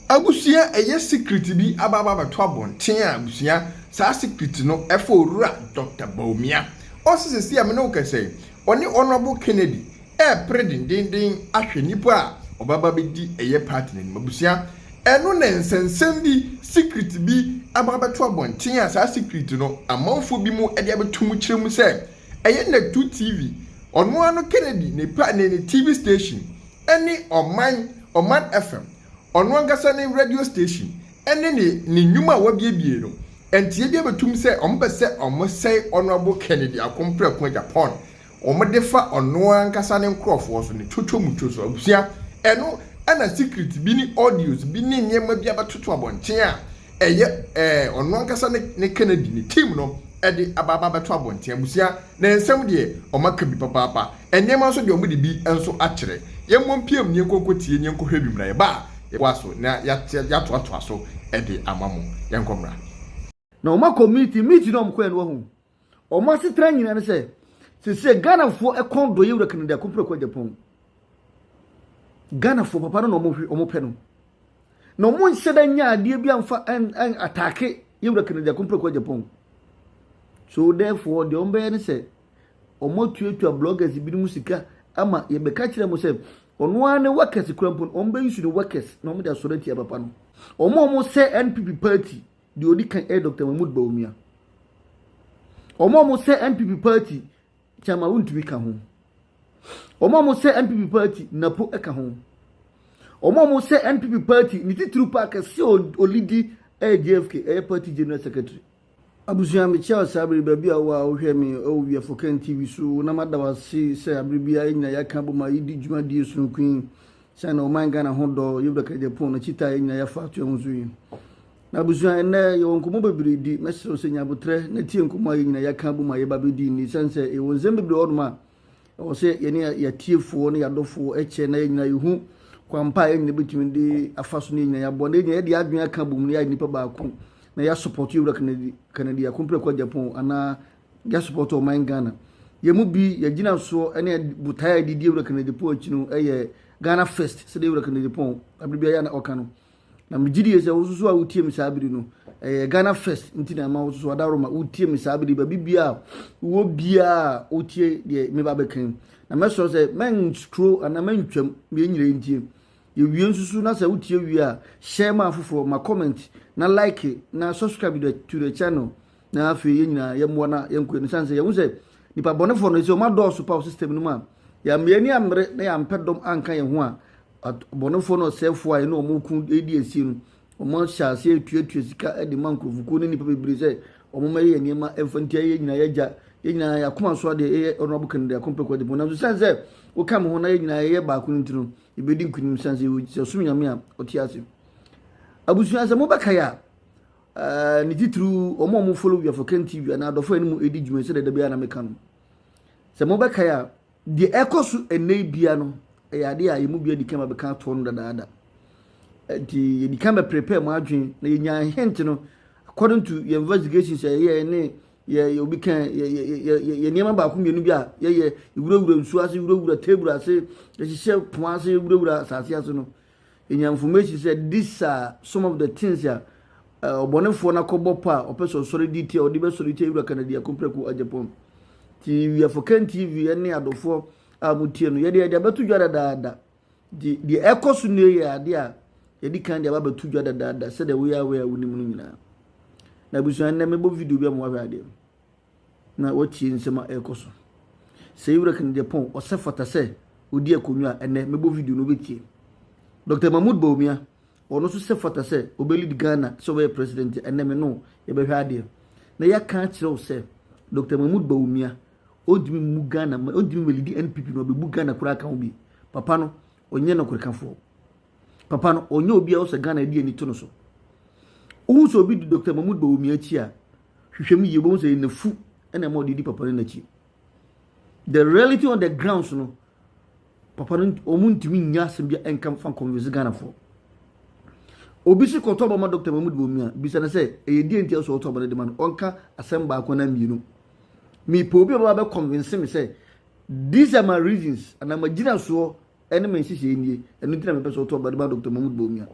Abusua a ɛyɛ secret bi aba aba abɛto abɔnten a abusua saa secret no ɛfa owura Doctor Bawumia. Ɔse sɛsi a me ne wo kɛsɛ yi ɔne Honourable Kennedy ɛɛpere dendenden ahwɛ nipa a ɔbɛba abɛdi ɛyɛ party no anim. Abusua ɛno na nsɛnsɛm bi secret bi aba abɛto abɔnten a saa secret no amanfoɔ bi mo ɛde abɛto mo kyerɛ mu sɛ ɛyɛ Natu TV ɔno ara no Kennedy ne pa ne ne TV station ne Ɔman, Ɔman FM, ɔno ankasa ne radio station ne ne ne nnwuma a wabiebie no, nteɛ biara bɛtum sɛ wɔpɛ sɛ wɔsɛe Honourable Kennedy Akom prɛko agya pɔn wɔde fa ɔno ankasa ne nkorɔfoɔ so, ne twotwo mu two so. Abusua, ɛno na secret bi ne audios bi ne nneɛma bi abɛtoto abɔnten a ɛyɛ ɛɛ ɔno ankasa ne ne Kennedy ne team no de aba aba abɛto abɔnten. Abusua. Na nsɛm deɛ, wɔaka bi papaapa. Nneɛma nso deɛ, wɔde bi nso akyerɛ. Yɛmmɔ mpiam na yɛnkɔnkɔ tie na yɛnkɔhwɛ bi mmra. Yɛba a, yɛbɛtoa so na yɛatoatoa so de ama mo. Yɛnkɔ mmra. Na wɔn akɔ meeting, meeting no a wɔn kɔɛ no wahu wɔn asetena nyinaa ne sɛ sesɛ Ghanafoɔ ɛkɔn dɔ yɛwura Kennedy Akompere Kwajapong Ghanafoɔ papa no na wɔn hwɛ wɔn pɛ no. Na wɔn nhyɛ da nya adeɛ bi amfa ataake yɛwura Kennedy Akompreko Agyapong. So therefore deɛ wɔbɛyɛ ne sɛ wɔatuatua bloggers binom sika ama yɛbɛka kyerɛ mo sɛ ɔno ara ne workers kura mpo wɔn bɛyi su ne workers na wɔn de asɔre atia papa no wɔn a wɔn sɛ npp party deɛ ɔdi kan ɛyɛ dr mahmood bawumia wɔn a wɔn sɛ npp party Kyama wontumi ka ho. Wɔn a wɔsɛ NPP party napo ka ho. Wɔn a wɔsɛ NPP party ne titiriw pa kɛse a olidi ɛyɛ JFK ɛyɛ party general secretary. Abusua mekyia wo saa bere yi baabi a wowɔ a wohwɛ me ɛwɔ Wiafo Ken TV so na mada wo ase sɛ abere biara yɛn nyinaa yɛaka abom a yɛdi dwumadie sononko yi sɛn na ɔman Ghana ho dɔ yɛwura Kɛrɛgyɛ pon no kyita a yɛn nyinaa yɛafa ato yɛn ho so yi. M'abusua, ɛnnɛ yɛwɔ nkɔmmɔ bebree di. Mɛsrɛ wo sɛ nya aboterɛ na tie nkɔmmɔ a yɛn nyinaa yɛaka abom a yɛreba abɛdi nnɛ yi, ɛsiane sɛ yɛwɔ nsɛm bebree wɔ hɔnom a ɛwɔ sɛ yɛne yɛn atiefoɔ ne yɛn adɔfoɔ kyɛ na yɛn nyinaa yɛhu kwan pa a yɛn nyinaa bɛtumi de afa so ne yɛn nyinaa yɛaboa na yɛn nyinaa yɛde yɛn adwene aka abom na yɛayɛ nnipa baako na yɛasopɔto Yɛwura Kennedy, Kennedy Akompreko Agyapong anaa yɛasopɔto ɔman Ghana. Yɛn mu bi, yɛn gyinasoɔ ne botaeɛ a yɛde di Yɛwura Kennedy Pong akyi no yɛ Ghana First, sɛdeɛ Yɛwura Kennedy Pong abere biara na ɔka no. Na megye die sɛ wo nso so a wotie me saa bere no, ɛyɛ Ghana First nti na ɛma wo nso so adaworoma wotie me saa bere baabi biara wɔ biara wotie deɛ meba bɛkan. Na mɛsrɛ sɛ mɛnturo anaa mɛntwam deɛ nyina ntie. Yɛwie nso so na sɛ wotie wie a, share ma afoforɔ, ma comment, na like, na subscribe to the channel. Na afei yɛn nyinaa yɛmmoa na yɛnkɔ yɛn sane sɛ yɛhu sɛ nipa bɔnefoɔ no sɛ wɔn adɔɔso pa wɔ system no mu a yɛn ani ammere na yɛampɛ dɔm anka yɛn ho a abɔnefoɔ ne ɔsɛefoɔ a yɛne wɔn reko redi asie no, wɔahyɛ aseɛ retuatua sika de ma nkurɔfokuo ne nnipa bebree sɛ wɔmmɛyɛ yɛn nneɛma mfa ntia yɛn nyinaa yɛn agya yɛn nyinaa yɛn akoma so adeɛ yɛyɛ honorable kennedy akompɛ kwadipɔn nanso sɛn sɛ woka me ho na yɛn nyinaa yɛyɛ baako no nti no yɛbɛdi nkonim sɛn sɛ yɛwɔ- sɛ ɔsom nyame a ɔte ase abusua sɛ mobɛkae a ɛɛ, ne titiriw wɔn a wɔfollow wiafo ken tv anaa adɔfo a ɛne mu ɛdi dwuma yi sɛdeɛ da biara na meka no sɛ mobɛkae a Deɛ ɛrekɔ so ɛnnɛ yi bia no, ɛyɛ adeɛ a yɛn mu bia di kan bɛka atoɔ no dadaada. Nti yɛdi kan bɛprepare mu adwene na yɛnya hint no according to yɛn investigations a yɛyɛ ne yɛ obi kan yɛ yɛ yɛ nneɛma baako mmienu bi a yɛyɛ wurawura nsuo ase wurawura table ase yɛhyehyɛ pono ase wurawura asase ase no yenya information sɛ these are some of the things a ɔbɔnefoɔ no akɔbɔ pa a ɔpɛ sɛ ɔsɔre di tia ɔde bɛsɔre tia wura kanadi akomprɛko agyapɔn nti we are for ken tv ne adɔfoɔ a motie no yɛde yɛde abɛto dwa dadaada nti deɛ ɛkɔ so nne yɛ adeɛ a yɛde kan deɛ ababɛto dwa dadaada sɛdeɛ woyɛ awɛ a wonim no nyinaa na abusua nnɛ mebɔ video bi a mowahwɛ adeɛ na watie nsɛm a ɛrekɔ so. Sɛ yɛwura kan deɛ pɔn, ɔsɛ fata sɛ ɔdi akonnwa a ɛnɛ mɛbɔ video no wobɛtie. Dr. Mahmoud Bawumia, ɔno nso sɛ fata sɛ ɔbɛlead Ghana sɛ ɔbɛyɛ president a ɛnɛ me no yɛbɛhwɛ adeɛ. Na yɛaka akyerɛ wo sɛ Dr. Mahmoud Bawumia ɔntumi mmu Ghana, ɔntumi mɛlidi NPP no ɔbɛbu Ghana koraa ka ho bi. Papa no, ɔnyɛ nɔkorekafoɔ. Papa no ɔnyɛ obi a ɔsɛ Ghana de ani to no so. Wohu sɛ obi di Dr. Mahmoud Bawumia akyi a, hwehwɛ mu yie, wobɛhu sɛ nafu na ɛma ɔde di papa no n'akyi. The reality on the grounds no, papa no wɔn ntumi nya asɛm bi nka fa convince Ghanafoɔ. Obi si kɔtɔ ɔba ma Dr. Mahmoud Bawumia, bisa no sɛ ɛyɛ deɛ nti a ɔsɛ ɔtɔ ɔba no de ma no, ɔnka asɛm baako na mmienu. Mepɛ obi a ɔbɛba bɛ convince me sɛ these are my reasons, anaa magyina soɔ Ɛne me nhyehyɛe nie, ɛno nti na mepɛ sɛ ɔto aba de ma Dr. Mahmoud Bawumia.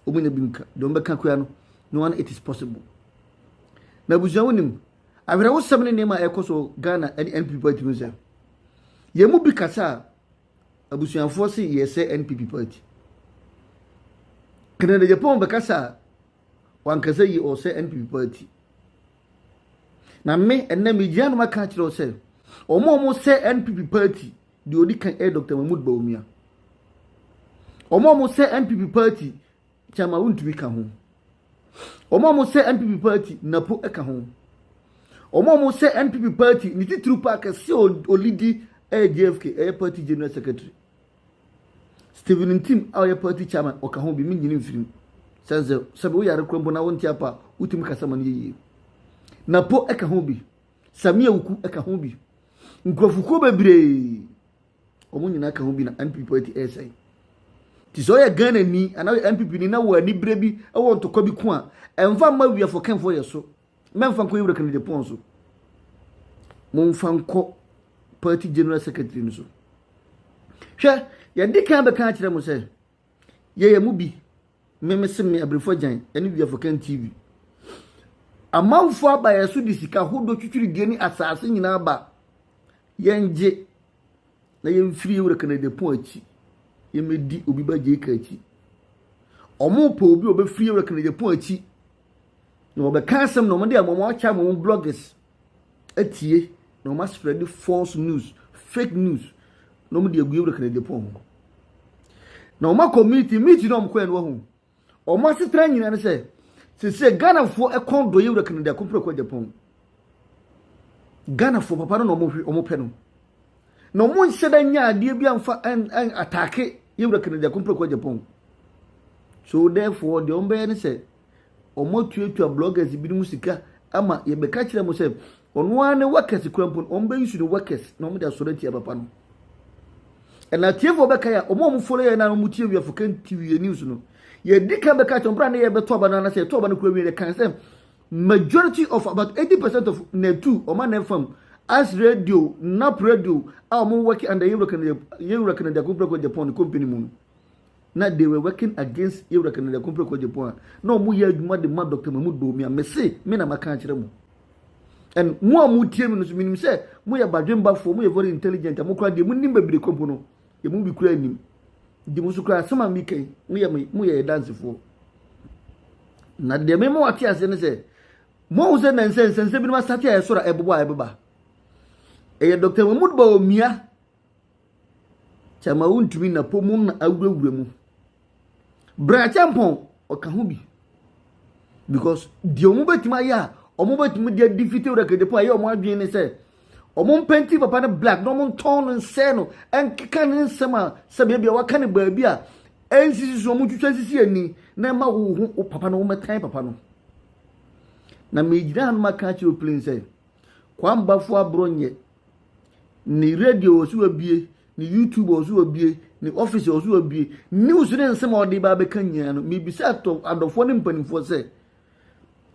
Wɔn nya bi nka, deɛ wɔn bɛka koraa no, no one it is possible. Na abusua wonim, awerɛhosɛm ne nneɛma a ɛkɔ so Ghana ne NPP party mu sɛ, yɛn mu bi kasa a, abusuafoɔ se yɛsɛ NPP party. Kennedy Japan bɛkasa a, wankasa yi ɔsɛ NPP party. Na me, ɛnɛ megyina no maka akyerɛ wo sɛ, wɔn a wɔsɛ NPP party Deɛ ɔdi kan yɛ Dr. Mahmood Bawumia. Wɔn a wɔsɛ NPP party Kyama wontumi ka ho. Wɔn a wɔsɛ NPP party Napo ka ho. Wɔn a wɔsɛ NPP party ne titiriw paa kɛse a ɔlidi yɛ JFK ɛyɛ party general secretary. Stephen Ntim a ɔyɛ party chairman ɔka ho bi menyini mfiri mu. Sɛ sɛ sɛ woyare kura mpo na wonte apa a wotumi kasa ma no yɛ yie. Napo ka ho bi. Sammy Awuku ka ho bi. Nkurɔfokuo bebree wɔn nyinaa ka ho bi na NPP party ɛresɛe. Nti sɛ ɔyɛ Ghana ni anaa ɔyɛ NPP ni na wɔ ani berɛ bi wɔ ntɔkwa bi ko a ɛmfa mma wiafo kɛnfo yɛ so. Mɛmfa nkɔ Yewura Kennedy pɔn so. Momfa nkɔ party general secretary no so. Hwɛ, yɛde kan bɛka akyerɛ mo sɛ Yɛyɛ mu bi. Me mese me Abrefo Agyan ne Wiafokan TV. Amanfo aba yɛn so de sika hodoɔ twitwiridie ne asase nyinaa ba. Yɛngye na yɛmfiri yɛwura Kennedy Ampong akyi. Yɛmmɛdi obi ba Jake akyi. Wɔpɛ obi a ɔbɛfiri yɛwura Kennedy Ampong akyi na wɔbɛka asɛm na wɔde ama wɔn akyɛ ama wɔn bloggers. atie na wɔn aspread false news fake news na wɔn de agu ewura kɛnɛde pɔn ho na wɔn akɔ meeting meeting na wɔn kɔ yɛ no ho wɔn asetena nyinaa ne sɛ sese ghanafoɔ ɛkɔn dɔ yɛ ewura kɛnɛde akɔpere kɔ de pɔn ghanafoɔ papa no na wɔn hwɛ wɔn pɛ no na wɔn nhyɛ dɛ nya adeɛ bi anfa ɛn ɛn ataake yɛ ewura kɛnɛde akɔpere kɔ de pɔn so therefore deɛ wɔn bɛyɛ ne sɛ. wɔatuatua bloggers binom sika ama yɛbɛka kyerɛ mo sɛ ɔno ara ne workers kura mpo no wɔbɛyusu ne workers na wɔde asɔre atia papa no ɛna atiefoɔ bɛka yɛ a wɔn a wɔfolo yɛ na wɔn tie wia fo kɛn tv yɛ news no yɛdi kan bɛka kyerɛ ɔbɛrɛ ne yɛbɛtɔ aba no anasɛ yɛtɔ aba no kura wie yɛ kan sɛ majority of about eighty percent of natu wɔn a na ɛfam as radio nap radio a wɔn work under yɛwura kanada yɛwura kanada kɔmpira kɔ japan company mu no na they were working against yɛwura kennedy akompere kɔgyepɔn a na wɔn yɛ adwuma de ma dr mamu domi a mese me na maka akyerɛ mu and mo a mo tie mi no so menim sɛ mo yɛ badwembafoɔ mo yɛ very intelligent a mo kora deɛ mo nim bebree kɔmpo no yɛ mo bi kura nim di mo so kura asɛm a mi kan mo yɛ mo yɛ dansefoɔ na deɛ me mo ate aseɛ ne sɛ mo ho sɛ nansɛ nsɛnsɛ binom asate a ɛsoro a ɛbobɔ a ɛbeba ɛyɛ dr mahmud bawumia Kyɛma wontumi na po mu na awurawura mu. Berakyɛmpɔn ɔka ho bi because deɛ wɔn bɛtumi ayɛ a wɔn bɛtumi de adi fiti rekede po a ɛyɛ wɔn adwene ne sɛ wɔn mpɛnti papa no black na wɔn ntɔn no nsɛɛ no nkeka ne nsɛm a sɛbi ebi a waka ne baabi a ɛnsisi so wɔn twitwa sisi ani na ɛma wo ho wo papa no wɔn bɛtan papa no na megyina ha no ma ka kyerɛ o plane sɛ kwambafo aborɔ nyɛ. Ne radio wɔ so wabue, ne YouTube wɔ so wabue, ne office wɔ so wabue. News ne nsɛm a ɔde ba abɛka nyinaa no, mebisa adɔfoɔ ne mpanimfoɔ sɛ,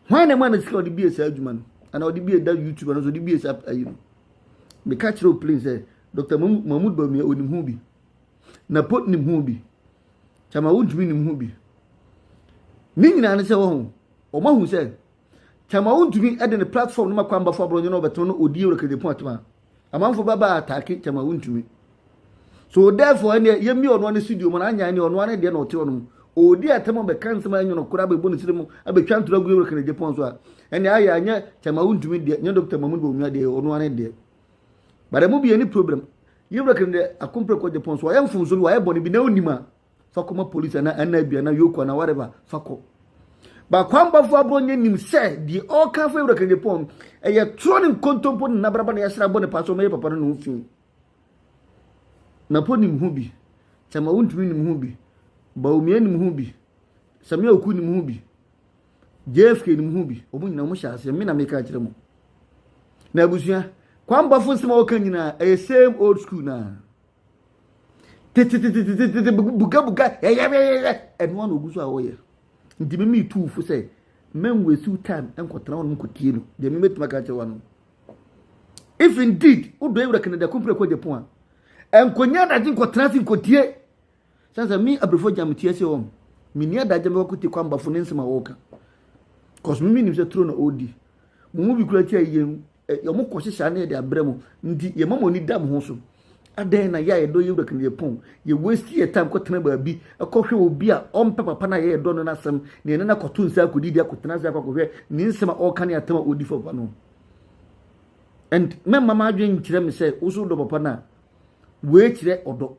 hwan na ɛma no sika ɔde bie saa adwuma no? Anaa ɔde bie da YouTube ano so ɔde bie saa ayi no? Meka kyerɛ Oplin sɛ, Dr. Mahmoud Bawumia ɔnim ho bi. Na pot nim ho bi. Kyama wontumi nim ho bi. Ne nyinaa ne sɛ wɔho, wɔn ahu sɛ Tama Wontumi de ne platform no ma Kwambafo Aborɔnye na ɔbɛtena na ɔdi Yoweri Kagye Pontoma. Amanfo bɛba ataake Tama Wontumi. So therefore ɛneɛ yɛmmie ɔno ne studio mu na anyan ne ɔno ne deɛ na ɔte ɔno mu. Ɔdi atɛm ɔbɛka nsɛm a ɛnwono koraa bɛbɔ ne siri mu abɛtwa ntorɔ agu Yoweri Kagye Pon so a ɛneɛ ayɛ anyɛ Tama Wontumi deɛ nyɛ Dr. Mahmoud Bawumia deɛ ɔno ne deɛ. But ɛmu bi yɛ ne problem. Yoweri Kagye akomprɛ kɔ Japan so ɔyɛ mfomso bi wayɛ bɔne bi na ɔnim a fa kɔma polisi anaa ɛna bi anaa yoko anaa whatever fa kɔ bakwambafo aborɔ nyɛ nim sɛ deɛ ɔreka fa awura kanadapɔn no ɛyɛ torɔ ne nkontompo ne nabraba na yɛsra bɔ ne paa sɛ ɔmɛyɛ papa no ne ho fi na po nim ho bi tɛma wontumi nim ho bi baomia nim ho bi samia oku nim ho bi jfk nim ho bi ɔmo nyina ɔmo hyɛ aseɛ me na meka akyerɛ mu na abusua kwambafo nsɛm a wɔka nyinaa ɛyɛ same old school naa tetetetetete bugabuga yɛyɛyɛyɛ ɛno ano ogu so a ɔyɛ nti mi mi tu fo sɛ mɛn wo esiw time nkɔtena wɔn nkɔtie no deɛ mi mɛtuma ka kyerɛ wɔn no if indeed wodɔ ewura kɛnɛdɛ kumpere kɔ japan a nkonya adagye nkɔtena se nkɔtie sɛ sɛ mi abirifo gya mi tie se wɔn mi ni adagye mi wakɔtie kɔ ambafo ne nsɛm a wɔka kɔsɔmi mi nim sɛ turo na ɔredi mo mu bi kura kyɛ yie ɛ, wɔn kɔhyehyɛ ano yɛ de abrɛ mu nti yɛma mo ani da mo ho so adɛn na yɛ a yɛdɔ yɛ wura kene yɛpɔn yɛ waste yɛ time kɔtena baabi ɛkɔhwɛ obi a ɔmpɛ papa no a yɛyɛ dɔ no no asɛm na yɛne no akɔto nsa akɔdi de akɔtena ase akɔhwɛ ne nsɛm a ɔka ne atam a ɔdi fa papa no and mɛma m'adwene nkyerɛ me sɛ wo so wodɔ papa no a wei kyerɛ ɔdɔ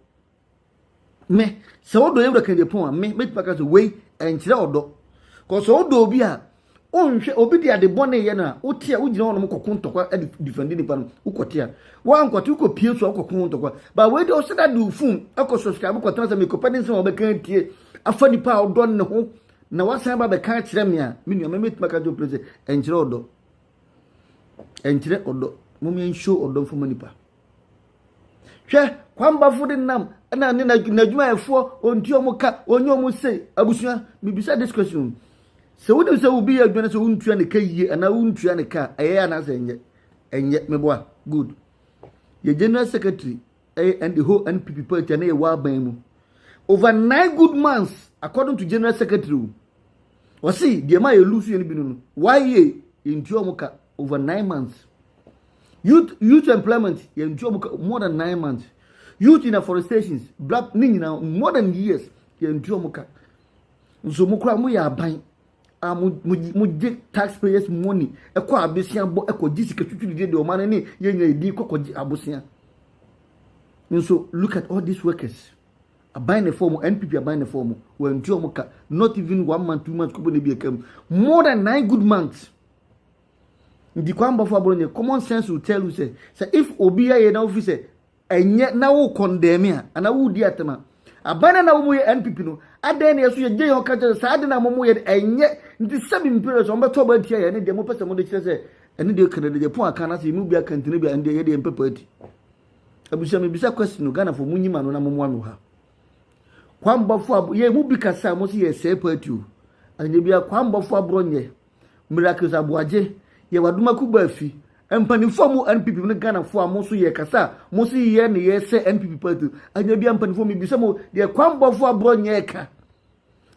me sɛ wodɔ yɛwura kennedy pɔn a me mɛtumi aka sɛ wei ɛnkyerɛ ɔdɔ kɔ sɛ wodɔ obi a wonhwɛ obi de ade bɔne yɛ no a wote a wogyina hɔnom kɔko ntɔkwa de difɛnde nipa no wokɔte a woankɔte wokɔpie so a wokɔko ho ntɔkwa ba wei deɛ ɔsɛ dade wo fon ɛkɔ subscribe kɔtena sɛ mekɔpɛ ne nsɛm a wɔbɛka atie afa nipa a ɔdɔ ne ho na wasan ba bɛka akyerɛ me a me nua mɛmɛtumi aka kyerɛ pere sɛ ɛnkyerɛ ɔdɔ ɛnkyerɛ ɔdɔ mom yɛnhyo ɔdɔ mfoma nipa Hwɛ, kwanbafo denam na ne n'adwumayɛfoɔ ɔnti ɔmo ka ɔnyɛ ɔmo se abusua mebisa this question sɛ wonim sɛ obi yɛ adwuma no sɛ wontua ne ka yie anaa wontua ne ka ɛyɛ anaasɛ ɛnyɛ ɛnyɛ meboa good yɛ general secretary ɛyɛ and the whole npp party ɛne yɛ wɔaban mu over nine good months according to general secretary o ɔsi deɛ ma yɛ lu so yɛ no bi no no why yɛ ntua ɔmo ka over nine months. youth youth employment yɛ nti ɔmo more than nine months youth in afforestations black ne nyinaa more than years yɛ nti ɔmo ka nso mo kora mo yɛ aban a mo mo mo gye taxpayers money ɛkɔ abosea bɔ ɛkɔ gye sika tutu de de ɔmo ano ne yɛ nyɛ edin kɔ kɔ gye abosea nso look at all these workers aban ne fɔm npp aban ne fɔm wɔn nti ɔmo ka not even one month two months kɔbɔ ne bi ɛka mu more than nine good months. Ntikuambɔfo abɔ no nyɛ common sense will tell you sɛ sɛ if obi ayɛ na wofi sɛ ɛnyɛ na wo condemn a anaa wodi atɛm a aban na na wɔn yɛ NPP no adɛn na yɛso yɛgye yɛn ɔka kyerɛ saa de na wɔn yɛ no ɛnyɛ nti sɛbi mpere so wɔn bɛtɔ ɔba atia yɛ ne deɛ mopɛ sɛ mode kyerɛ sɛ ɛne deɛ kan deɛ pon aka na sɛ yɛmu bi aka ntene bi a ɛndeɛ yɛde yɛn pɛ party abusua mebisa question no Ghana fo mo nyima no na mo moa no ha kwambɔfo yɛ mu bi kasa mo sɛ yɛ sɛ party o anyɛ bi a kwambɔfo aborɔ nyɛ Miracles Aboagye yɛ Wadoma Kubafi mpanimfoɔ a mo NPP ne Ghanafoɔ a mo nso yɛ kasa a mo nso yɛ ne yɛ sɛ NPP party anya bi mpanimfoɔ mi bisa mo deɛ kwanbɔfoɔ aborɔ nyɛ ka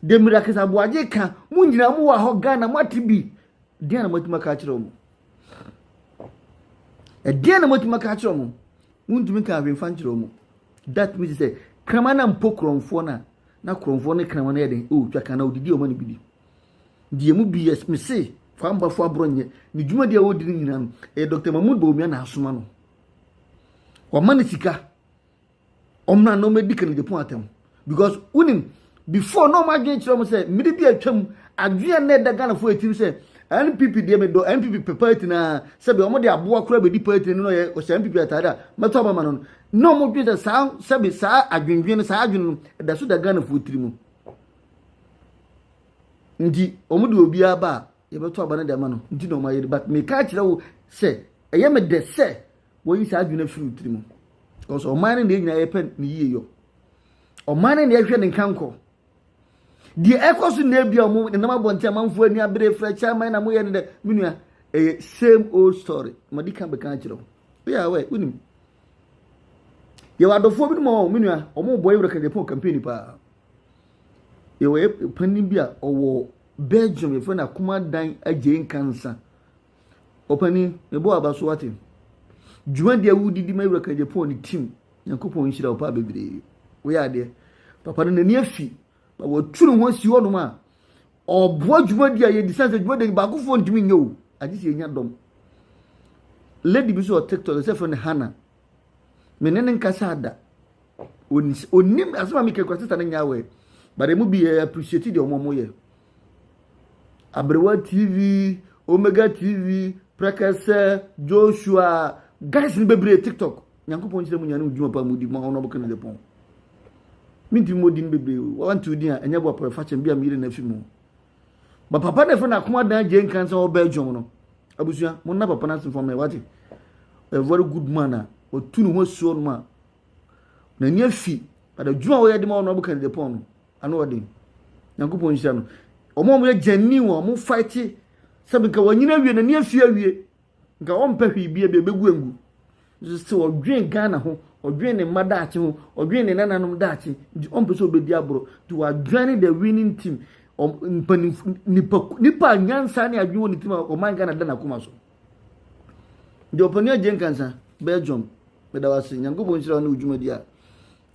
deɛ Miracles Aboagye ka mo nyinaa mo wɔ hɔ Ghana mo ate bi deɛ na mo atuma ka akyerɛ wɔn ɛdeɛ na mo atuma ka akyerɛ wɔn mo ntumi ka ahwɛnfa nkyerɛ wɔn that means sɛ kraman na mpo korɔnfoɔ na na korɔnfoɔ ne kraman no yɛ den ɛwɔ twa kan na odidi wɔn ani bi di. Deɛ ɛmu bi yɛ, mese Kwambafo Aborɔnyɛ, ne dwumadi a ɔredi no nyinaa no, ɛyɛ Dɔkta Mahmood Bawumia na asoma no. Wɔama no sika, ɔmmra na ɔmmɛdi Kenneth Gyapong atɛm. Because wonim, before na wɔn adwene kyerɛ wɔn sɛ mmiri bi a atwam, adwene na ɛda Ghanafoɔ atirim sɛ NPP deɛ medɔ NPP pɛ party naa sɛbi wɔn de aboa koraa bɛdi party no na ɔyɛ ɔhyɛ NPP ataade a mɛtɔ aba ma no no na wɔn dwene sɛ saa sɛbi saa adwendwene no saa adwene no ɛda so da Ghanafoɔ tiri mu. Nti wɔn de obiara ba a yɛbɛto aba no de ama no nti na wɔayɛ no but meka akyerɛ wo sɛ ɛyɛ me dɛ sɛ wɔyi saa adwene firi wo tirim because ɔman no deɛ nyinaa yɛpɛ ne yie yɔ ɔman no deɛ ɛhwɛ ne nkankɔ deɛ ɛkɔ so na ebi a wɔn nenam abɔnten amanfoɔ ani abere frɛ chairman na moyɛ no dɛ me nua ɛyɛ same old story madi kan bɛka akyerɛ wo woyɛ awɛ wonim yɛwɔ adɔfoɔ bi no ma wɔn me nua wɔn bɔ yɛ wura kɛntɛpɔn campaign paa Yɛwɔ yɛ panin bi a ɔwɔ Belgium, yɛfrɛ no Akumadan Agyei Nkansah. Ɔpanin, mebɔ w'aba so wate. Dwumadi a wodi di ma Awurade Kajapon ne team. Nyankopɔn nhyira wo paa bebree. Woyɛ adeɛ. Papa no n'ani afi. Ba wɔatu ne ho asi hɔnom a ɔboa dwumadi a yɛdi sane sɛ dwumadi baakofoɔ ntumi nyɛ o. Agye sɛ yɛnya dɔm. Lady bi so wɔ TikTok, ɛsɛ frɛ no Hannah. me ne no nkasaa da onim asɛm a meka kura sista no nyɛ awɛ but ɛmu bi yɛ appreciate deɛ ɔmo ɔmo yɛ aberewa tv omega tv prekɛsɛ joshua guys no bebree tiktok nyankopɔn nkyerɛ mu nyane wo dwuma pa mu di ma ɔno ɔbɛka no de pɔn mentumi mɔ din bebree o wɔnte wo din a ɛnyɛ boa pɔrɔ fakyɛm bi a meyere no afi mu Ba papa na ɛfɛ na akoma dan gye nkan sɛ ɔbɛ adwom no. Abusua, mo nna papa no ase mfama wagye. A very good man a ɔtu ne ho asuo no a n'ani afi but adwuma a wɔyɛ de ma ɔno abɛka ne de pɔn no ano ɔden. Nyankopɔn nhyira no. Wɔn a wɔyɛ gyani wɔn mo fight sɛ bɛka wɔnyina awie n'ani afi awie Nka wɔmpɛ hwee bia bia bɛgu angu. Nso sɛ ɔdwen Ghana ho, ɔdwen ne mma daakye ho, ɔdwen ne nananom daakye, nti ɔmpɛ sɛ ɔbɛdi aborɔ. Nti wadwane the winning team. Mpanimf, nipa, nipa a nyansa ne adwen wɔ ne tim a ɔman Ghana da n'akoma so. Nti ɔpani agye nkansa, Belgium, meda wase, Nyankopɔn nhyira wo ne wo dwumadi a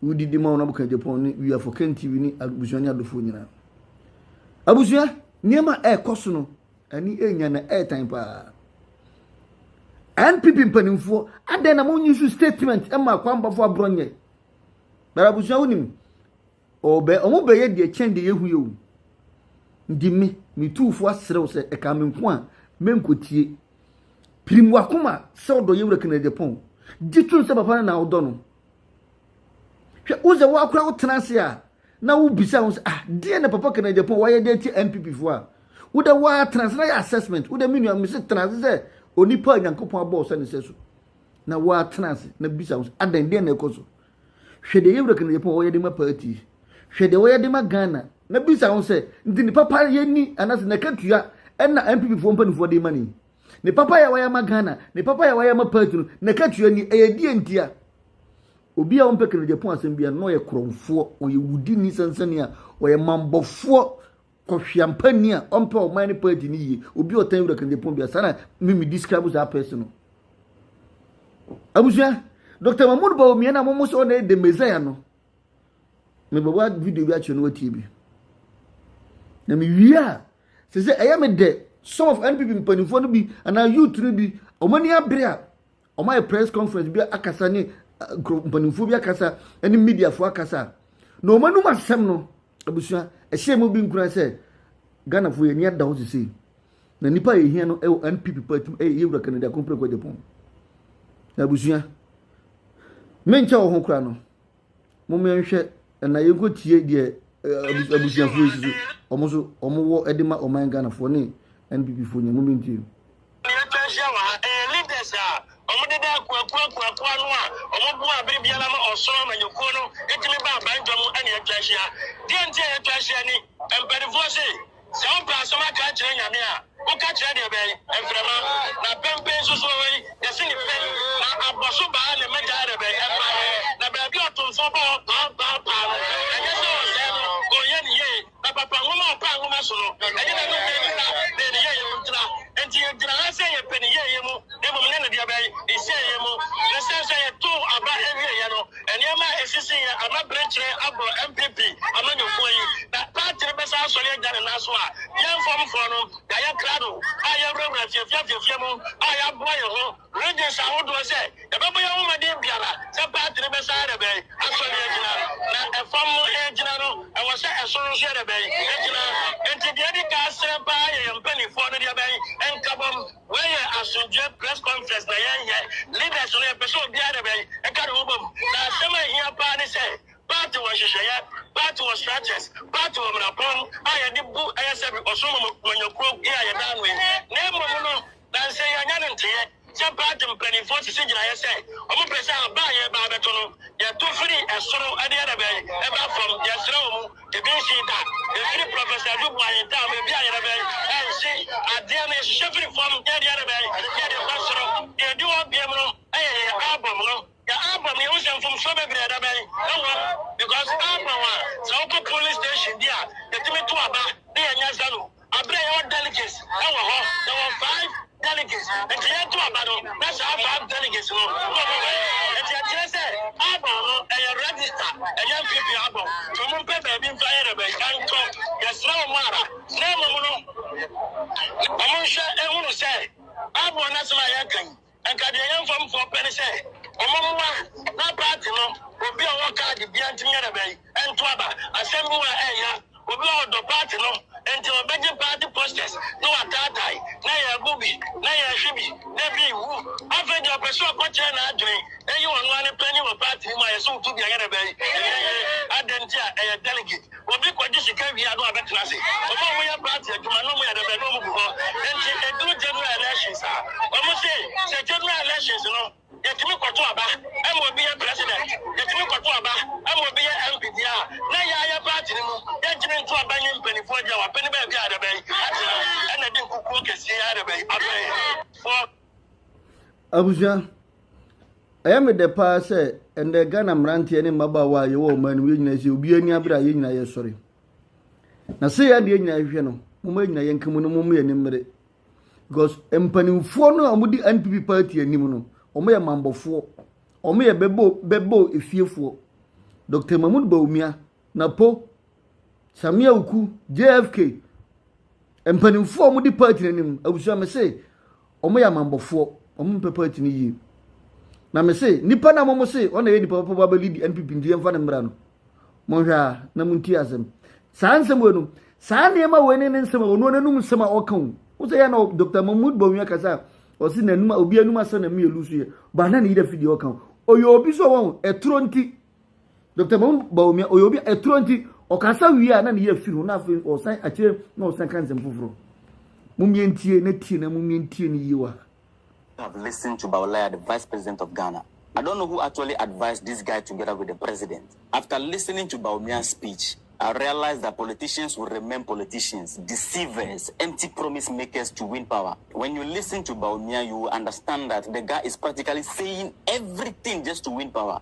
wodi di ma wo na boka Japan ne wia for Ken TV ne abusua ne adofoɔ nyinaa. Abusua, nneɛma a ɛrekɔ so no, Ani enya na ɛɛtan paa. NPP mpanimfoɔ adɛn na monyi so statement ma akwambafo aborɔ nyɛ. Bɛrɛ abusua wonim ɔbɛ ɔmo bɛyɛ deɛ kyɛn deɛ yɛhu yɛ o. Nti me metuufo aserew sɛ ɛka me nko a menkotie. Pirim wakoma sɛ ɔdɔ yɛwura Kennedy Pɔn. Gye tom sɛ papa no na wodɔ no. Hwɛ, wo sɛ woakora wotena ase a na wobisa ho sɛ ah deɛ na papa kana japan wayɛ de atia npp foɔ a wodɛ woa tena ase na yɛ assessment wodɛ me nua mese tena ase sɛ onipa a nyankopɔn abɔɔ sɛ ne sɛ so na woa tena ase na bisa ho sɛ adɛn deɛ na ɛkɔ so hwɛ deɛ yɛwura kana japan wɔyɛ de ma party hwɛ deɛ wɔyɛ de ma ghana na bisa ho sɛ nti ne papa yɛni anasɛ nakatua ɛna npp foɔ mpanimfoɔ de ma ne yi Ne papayɛ a wayɛ ama Ghana, ne papayɛ a wayɛ ama party no, n'akatua ni, ɛyɛ deɛ nti a obi a ɔmpɛ Kennedy Apon asɛm bia na ɔyɛ korɔmfoɔ, ɔyɛ wudini sansani a ɔyɛ mambɔfoɔ kɔhweampa ni a ɔmpɛ ɔman ne party no yie, obi a ɔtan wura Kennedy Apon bia saa na mimi describe saa person no. Abusua, Dr. Mahmoud Bawumia no a momo sɛ ɔna yɛ the Messiah no, Mebɛbɔ video bi akyerɛ no watie bi. Na mewie a, sɛ sɛ ɛyɛ me dɛ some of NPP mpanimfoɔ no bi anaa youth no bi wɔn ani abere a wɔn ayɛ press conference bi akasa ne eh, mpanimfoɔ bi akasa ne mediafoɔ akasa na wɔn anum asɛm no abusua ɛhyɛ mu bi nkura sɛ ghanafoɔ yɛ ani ada hɔ sese na nipa a yɛhia no ɛwɔ NPP party mu ɛyɛ yɛwura kanadi akompere kɔ gyapɔn na abusua menkyɛ wɔ ho kora no. Moma yɛnhwɛ na yɛnkɔtie deɛ abusuafoɔ si so wɔn nso wɔwɔ de ma ɔman ghanafoɔ ne nppfoɔ nyɛ moma ntie no ɛhyɛ wɔ ha ɛyɛ leaders a wɔdeda akuakuakuakoa no a wɔboa abere biara ma ɔsoro amanyɔkuo no ɛtumi ba abandwa mu ɛne atwa ahyia deɛ nti a yɛtwa ahyia ni mpanifoɔ se Sɛ wompɛ asɛm aka akyerɛ Nyame a, woka kyerɛ deɛ bɛn? Mframa. Na pɛmpɛ nso so wɔ hɔ yi, yɛse no pɛ, na abɔ so baa ne mmɛgyaɛ dɛ bɛn? Mmaeɛ. Na baabi a ɔto nso bɔ hɔ paa paa paa no, ɛnyɛ sɛ ɔsɛɛ no, ɔnyɛ no yie. Na papa nwoma a ɔpaa nwoma so no, ɛnyɛ n'anom na ɛgyina, na ɛyɛ ne yɛyɛ mu ntina. Enti yɛgyina ha sɛ yɛpɛ ne yɛyɛ mu, na mmom ne ne deɛ bɛn? Ne sɛeɛ mu. Ne sɛ sɛ yɛtow aba awieɛ no, Nneɛma a esisii yɛ ama bere kyerɛ abɔ NPP amanyɔkuo yi, na party no bɛsan asɔre agya ne nan so a yɛn fɔmfoɔ no yɛayɛ krado a yɛawurawura afiafi afiafia mu a yɛaboa yɛn ho regions ahodoɔ sɛ yɛbɛbɔ yɛn ho mmɔden biara sɛ party no bɛsan arebɛn asɔre agyina na ɛfam no ɛregyina no ɛwɔ sɛ ɛsoro nso yɛrebɛn agyina enti deɛ ɛdi kan serɛ paa yɛ yɛn mpanimfoɔ no deɛ bɛn nkabom Wei yɛ asomdwoeɛ press conference na yɛnyɛ. Leaders no yɛpɛ sɛ obiara de bɛn ɛka ne ho bom. Na asɛm a ɛhia paa ne sɛ party wɔ nhyehyɛeɛ, party wɔ structures, party wɔ mmarapɔn a yɛde bu ɛyɛ sɛ bi ɔsom amanyɔkuo yi a yɛda ano yi. Na mmom no na nsɛ yɛanya no nteeɛ sɛ party mpanimfoɔ sisi gyinaeɛ sɛ wɔn pɛ sɛ aba a yɛreba abɛto no yɛto firi ɛsoro ɛde yɛ de bɛn ɛba fam. Yɛsrɛ wɔn. Ebi nhyee da. Efiri Professor Adu Boahe ntam, baabi a yɛde bɛn ɛnhye adeɛ no, yɛhyehyɛ firi fam na yɛde bɛn na yɛde kɔ soro. Deɛ edi hɔ biam no yɛ yɛn album no. Yɛn album no, yɛhu sɛ mfomsoɔ bebree ɛda bɛn ɛwɔ mu because album a sɛ wokɔ polling station bi a yɛtumi to aba na yɛnya zero. Aber a yɛwɔ delegates wɔ hɔ, yɛwɔ five delegates, ntsi yɛto aba no na saa five delegates no na wɔbɔ ban. Ntsi ɛkyerɛ sɛ Abon no yɛ register, ɛnyɛ NPP Abon. Ntsi wɔmpɛ beebi mfa hɛn rebɛn nkɔ. Yɛserɛ hom ara na mbom no, hom nhwɛ nhunu sɛ Abon n'asɛm a yɛreka yi, Anka deɛ yɛn mfomsoɔ pɛ ne sɛ wɔmmoa na party no obi a ɔwɔ card biara ntumi nyɛ dɛbɛn nto aba. Asɛm bi wɔ a ɛyɛ ya, obi a ɔdɔ party no nti ɔbɛgye party posters na wataatae, na yɛbu bi, na yɛhwe bi, na bi wu. Afei deɛ ɔpɛ sɛ ɔkɔkyerɛ n'adwene, ɛyɛ ɔno ara ne panyin wɔ party no mu a, yɛse woto bi a ɛnyɛ dɛbɛn, ɛnyɛ yie. Adɛn nti a ɛyɛ delegate. Obi kɔgye sika wie a na wabɛtena ase. Wɔn a wɔyɛ party adwuma na wɔyɛ dɛ bɛn na wɔgu hɔ. Enti ɛduru general elections a, wɔse sɛ general elections no yɛtumi kɔto aba ma obi yɛ president, yɛtumi kɔto aba ma obi yɛ MP deɛ a, na yɛn ara yɛn party no mu yɛntumi nto aba nye mpanimfoɔ deɛ wɔapɛ ne baabi a yɛde bɛn atena na yɛde nkukuo kɛseɛ yɛ ara na yɛde bɛn abɛn. Abusua, ɛyɛ me dɛ paa sɛ ɛnɛ Ghana mmeranteɛ ne mmabaawa a yɛwɔ ɔman no mu yɛn nyinaa sɛ obi ani abere a yɛn nyinaa yɛsɔre. Na sɛ yɛn deɛ nyinaa hwehwɛ no, moma yɛn nyinaa yɛn ka mu no moma yɛn mmere. Because mpanimfoɔ no a wɔdi NPP party anim no, wɔyɛ mambɔfoɔ, wɔyɛ bɛbɔ bɛbɔ efiefoɔ. Dr. Mahmoud Bawumia na po, Samia Uku, JFK, mpanimfoɔ a wɔdi party no anim, abusua me se wɔyɛ amammɔfoɔ, wɔmpɛ party no yie. Na me se nipa no a wɔn se wɔn na ɛyɛ nipa papa ba bɛli di NPP nti yɛmfa no mmra no, monhwɛ a na montie asɛm. Saa nsɛm wei no, saa nneɛma wei ne ne nsɛm a wɔn anum nsɛm a ɔka o. Wosɛ yɛ na Dr. Mahmoud Bawumia kasa a ɔse n'anum obi anum asɛm na mmienu so yɛ, ba na ne yere fi deɛ ɔka o. Ɔyɛ obi so wɔn ɛtoro nti. Dr. Mahmoud Bawumia, ɔyɛ obi a ɛturo nti, ɔkasa wie a na ne yɛ afiri no na afei ɔsan akyire na ɔsan ka nsɛm foforɔ. Mumie ntie na tie na mumie ntie no yie wɔ ha. have listened to Bawlaya the vice president of Ghana. I don't know who actually advised this guy together with the president. After listening to Bawumia's speech, I realized that politicians will remain politicians, deceivers, empty promise makers to win power. When you listen to Bawumia, you will understand that the guy is practically saying everything just to win power.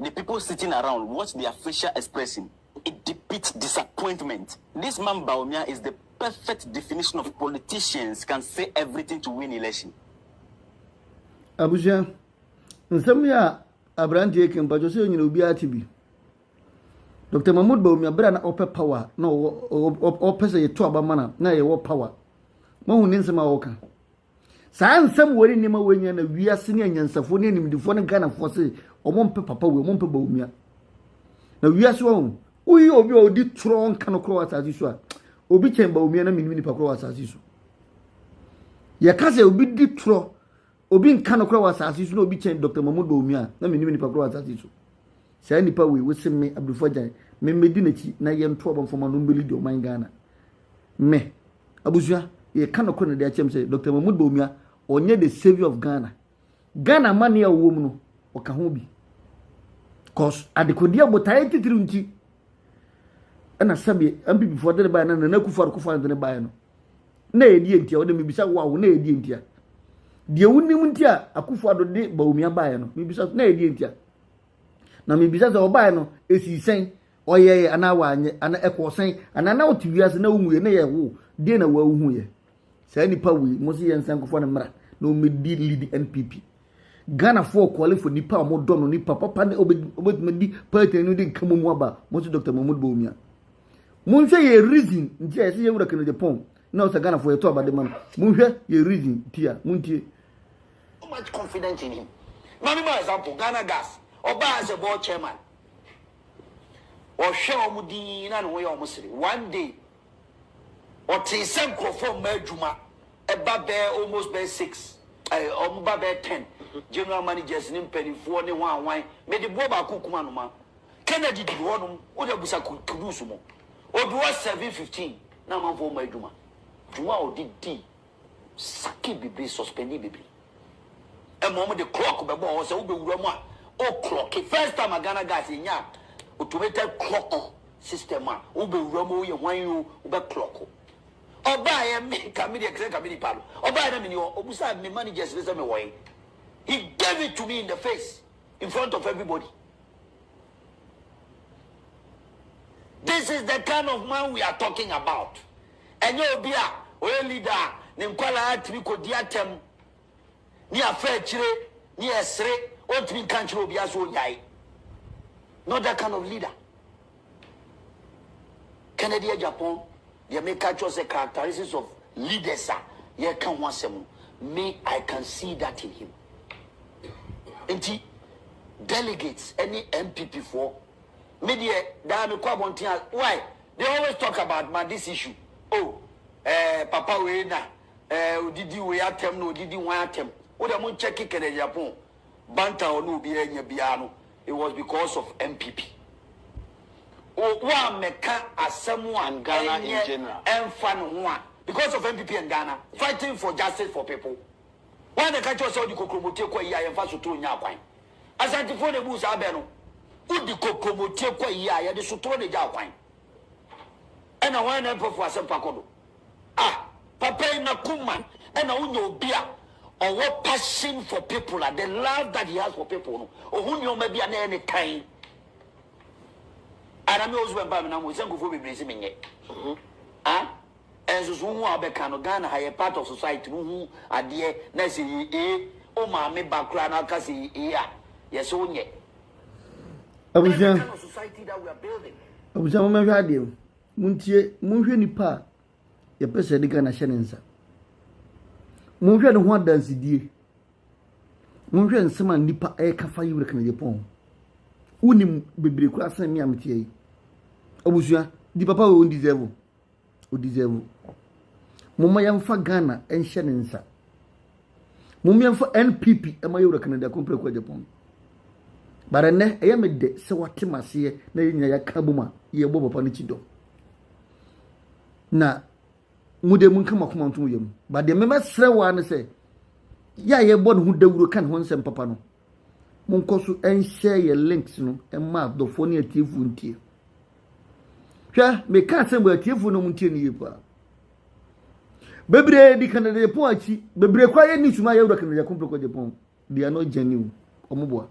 the people sitting around watch their facial expression it depicts disappointment this man Bawumia is the perfect definition of politicians can say everything to win election. abusua nsɛm yi a aberanteɛ kɛ mpatwɔ sɛ nyina obiara te bi dr mahmud baumia berɛ a na ɔpɛ power na ɔpɛ sɛ yɛto aba mana na yɛwɔ power mahu ne nsɛm a ɔka Saa nsɛm wei ne nneɛma wei nyɛ na wiase ne anyansafoɔ ne animdifoɔ ne Ghanafoɔ se wɔn mpɛ papa wei, wɔn mpɛ Bawumia. Na wiase wɔn, woyi obi a ɔdi torɔ nka no korɔ wɔ asase so a, obi kyɛn Bawumia na menim nipa korɔ wɔ asase so. Yɛka sɛ obi di torɔ, obi nka no korɔ wɔ asase so na obi kyɛn Dr. Mahmoud Bawumia na menim nipa korɔ wɔ asase so. Saa nipa wei, wose me Abdul Fajan, memmɛdi n'akyi na yɛnto abɔmfama no mbɛlidi ɔman Ghana. Me. Abusua, yɛka nokore na de akyerɛ mo sɛ Doctor Mahmood Bawumia, ɔnyɛ the saviour of Ghana. Ghana amanneɛ a ɔwɔ mu no, ɔka ho bi. Cause adekodeɛ botaeɛ titiriw nti, ɛna sɛbeɛ MPP foɔ de ne baeɛ na Nana Akufo Addo Kufuor de ne baeɛ no, na ɛyɛ deɛ ntia, ɔde mebisa wo a wo na ɛyɛ deɛ ntia. Deɛ wonim nti a Akufo Addo de Bawumia baeɛ no, mebisa na ɛyɛ deɛ ntia. Na mebisa sɛ ɔbaeɛ no, ɛsii sɛn? ɔyɛeɛ anaa wanyɛ anaa ɛkɔɔ sɛn anaa na wote wiase na wonwuiɛ na yɛwo deɛ na woahuhuiɛ saa nipa wei mo se yɛnsa nkɔfa no mmra na ɔmmɛdi lead npp ghanafoɔ kɔle fo nipa a wɔdɔ no nipa papa ne ɔbɛtumi di party no de nka mu mu aba mo se dr mahmud bawumia monhwɛ yɛ reason nti a ɛsɛ yɛwura kennedy pɔn na ɔsɛ ghanafoɔ yɛtɔ abade ma no monhwɛ yɛ reason nti a montie much confidence in him. Mami, my example, Ghana Gas, Oba as a board chairman, Ɔhwɛɛ wɔn dinn na ne ho yɛɛ wɔn sere. One day, ɔtee sɛ nkurɔfoɔ mma adwuma ba bɛyɛ almost bɛyɛ six, eh, wɔn ba bɛyɛ ten, general managers ne mpanimfoɔ ne hwan hwan. Mede boɔ baako kum anoma. Kennedy duru hɔnom, wode abusa Kudus mo. Ɔduru hɔ seven fifteen na amanfoɔ mma adwuma. Dwuma a ɔde dii Saki bebree suspendee bebree ɛma wɔn de clock bɛbɔɔ hɔ sɛ wobɛwura mu a o clock first time a Ghana guys yɛnya automated clock system a wobɛwura mu o yɛ hwan o wobɛ clock ɔbaeɛ me ka me deɛ sɛ ka me nipa no ɔbaeɛ na meni hɔ ɔbusa me managers ne sɛ me wɔe he gave it to me in the face in front of everybody This is the kind of man we are talking about. Ɛnyɛ obi a ɔyɛ leader a ne nkwadaa tumi kɔdi atɛm ne afa akyire ne ɛsere ɔntumi nka nkyerɛ obiara sɛ ɔnyae. Not that kind of leader. Kennedy Agyapong deɛ meka kyerɛ sɛ characteristics of leaders a yɛka ho asɛm no, me I can see that in him. Nti delegates ne NPP foɔ me deɛ daa me kɔ abɔnten a why they always talk about ma this issue oh eh, papa wei na eh, odidi wei atɛm na odidi wan atɛm wo deɛ mo nkyɛ kekɛ dɛ Japan banta ɔne obi anya biara no it was because of NPP o wo a mɛka asɛm a ɛnyɛ ɛnfa ne ho a because of NPP and Ghana fighting for justice for people Hwan na ɛka kyerɛ wo sɛ wode kokromotee kɔ ayie a yɛmfa sotoro nnya kwan? Asantefoɔ na ɛbuu saa bɛ no. Wode kokromotee kɔ ayie a yɛde sotoro na ɛgyaa kwan. Ɛna hwan na ɛmpɛ fo asɛmpa kɔ do? Ah, papa yi n'akoma ɛna wonya obi a ɔwɔ passion for people a the love that he has for people no ɔhu nneɛma bi a na ɛyɛ ne tan. Ara me husband ba me nam hɔ sɛ nkurɔfoɔ bebree sɛ menyɛ. Ah. Nsusuho ho a wobɛka no, Ghana ha yɛ part of society, wohu adeɛ na ɛsɛ yɛ ee, wo maame ba koraa na ɔka sɛ yɛ ee a, yɛsɛ wo nyɛ. Abusua, abusua mo mɛhwɛ adeɛ o, montie, monhwɛ nipa a yɛpɛ sɛ yɛde Ghana hyɛ ne nsa. Monhwɛ ne ho adansedie. Monhwɛ nsɛm a nipa ɛreka fa yi wura kanadie pɔn ho. Wonim bebree koraa sɛn me a meteɛ yi. Abusua, di papa wei wo deserve o. o deserve. Momma yɛmfa Ghana nhyɛ ne nsa. Momma yɛmfa NPP ma yɛwura Canada Kumpere Kwajapɔn. Bara nnɛ ɛyɛ me dɛ sɛ wate m'aseɛ na yɛn nyinaa yɛaka abom a yɛbɔ papa no kyi dɔ. Na mo deɛ monka mo akoma ntom yam. Ba deɛ mɛmɛsrɛ wo ara ne sɛ yɛ a yɛbɔ ne ho dawuro ka ne ho nsɛm papa no Monkɔ so nhyɛ yɛn links no mma adɔfoɔ ne atiefoɔ ntie. Hwɛ, meka asɛm wɔ atiefoɔ no mu ntie no yie paa. Bebree di Canada Japan akyi, bebree kɔ ayɛ ne suma yɛ wura Canada Japan pɛkɔ Japan. They are not genuine. Wɔn boa.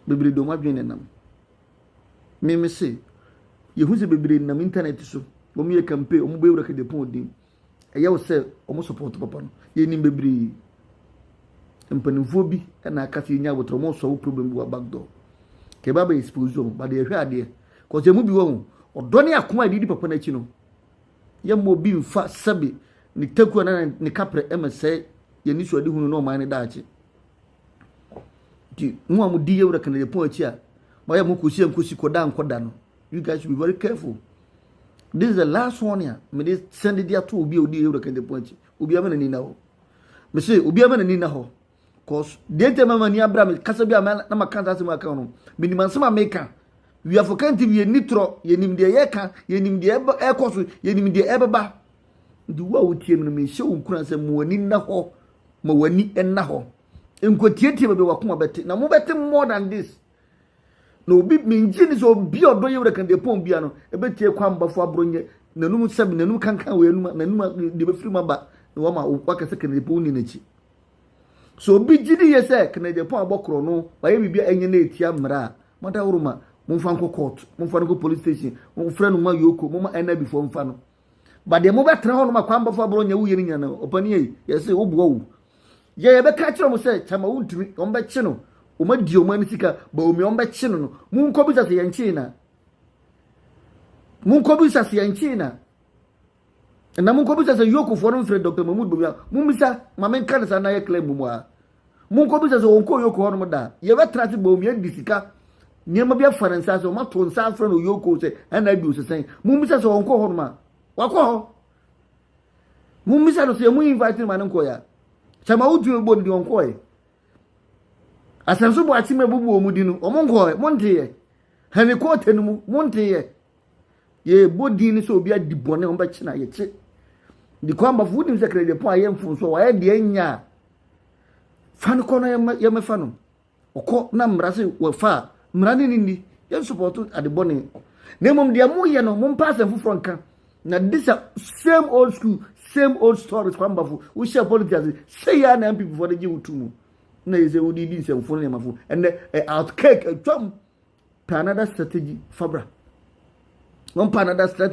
Bebree de wɔn adwene nenam. Mmemme se, yɛhu sɛ bebree nam intanɛt so, wɔn yɛ campaign, wɔn bɛ wura Canada Japan din. ɛyɛ wo sɛ wɔn support papa no yɛnim bebree mpanimfoɔ bi na aka sɛ yɛnya abotire wɔn sɔ wo problem bi wɔ back door kɛba bɛ expose wɔn ba deɛ ɛhwɛ adeɛ kɔsɛ mu bi wɔ ho ɔdɔ ne akoma a yɛde di papa no akyi no yɛmmɔ obi mfa sɛbe ne taku anaa ne kaprɛ ɛmɛ sɛ yɛn ni so adi hunu ne ɔman ne daakye nti mo a mo di yɛwura kanadapɔn akyi a moayɛ mo kɔsi ankosi kɔda nkɔda no you guys should be very careful this is the last one ya me de send de ato obi a odi ewura kente pon akyi obi ama n'ani na hɔ me se obi ama n'ani na hɔ cause deɛ ntɛ mama ni abira me kasa bi a na ma kanta asɛm aka no me nim ansɛm a meka we are for kente bi yɛ ni torɔ yɛ nim deɛ yɛ ka yɛ nim deɛ ɛkɔ so yɛ nim deɛ ɛbɛba nti wo a wotie me no mehyɛ wo nkura sɛ mo ani nna hɔ ma w'ani nna hɔ nkɔtietie baabi wakoma bɛte na mobɛte more than this Na obi mengye ni sɛ obi a ɔdɔ yɛ wura kande pɔn bia no ɛbɛtie kwan mbafo aboro nyɛ n'anum sɛm n'anum kankan wɔ anum n'anum deɛ bɛfiri mu aba na wama waka sɛ kande pɔn ni n'akyi so obi gye ni yɛ sɛ kande pɔn abɔ korɔ no wayɛ biribi a ɛnyɛ na ɛtia mmara a mada woroma momfa nkɔ court momfa no nkɔ police station momfrɛ no ma yoko moma ɛna bifoɔ mfa no but deɛ mobɛtena hɔ nom akwanbɔfo aborɔ nyɛ woyɛ no nyina no ɔpani ei yɛse woboa wo yɛ yɛbɛka kyerɛ mo sɛ kyama wontumi ɔmbɛkye no ɔmadi ɔma no sika ba omi ɔmbɛkye no no monkɔ bisa sɛ yɛnkyee na monkɔ bisa sɛ yɛnkyee na na monkɔ bisa sɛ yokofoɔ no mfrɛ dr mahmud bamia mommisa ma menka ne saa na yɛ claim mu a Monkɔbisa sɛ wɔnkɔ Oyoko hɔnom da a, yɛbɛtena ase bɔ wɔn, yɛadi sika, nneɛma bi afa ne nsa ase, wɔato nsa afrɛ no Oyoko sɛ ɛna adi osesɛn. Mommisa sɛ wɔnkɔ hɔnom a, wakɔ hɔ. Mommisa no sɛ mo invite no ma no nkɔeɛ a, sɛ ma wotumi bɔ no deɛ ɔnkɔeɛ. Asɛnso bɔ akyem abubu wɔn di no, wɔn nkɔeɛ, monteeɛ. Henry Kɔɔte no mu, monteeɛ. Yɛbɔ din no sɛ obi adi bɔne, wɔbɛkye no ayɛkye. Di kwan bafo, wonim sɛ Krediapɔn ayɛ mfomsoɔ, wayɛ deɛ ɛnyɛ a, fa no kɔ na yɛmɛfa no ɔkɔ na mmara se wɔfa a mmara ne ne nni yɛnsupɔto ade bɔne na mmom deɛ moyɛ no mompa asɛm foforɔ nka na this a same old school same old stories kwambafo wohyɛ politics sɛ yɛ na mpp fo de gye wotu mu na yɛ sɛ wode di nsɛmfo ne nneɛmafo ɛnɛ out cake atwam pa another strategy fabra wɔmpa another strategy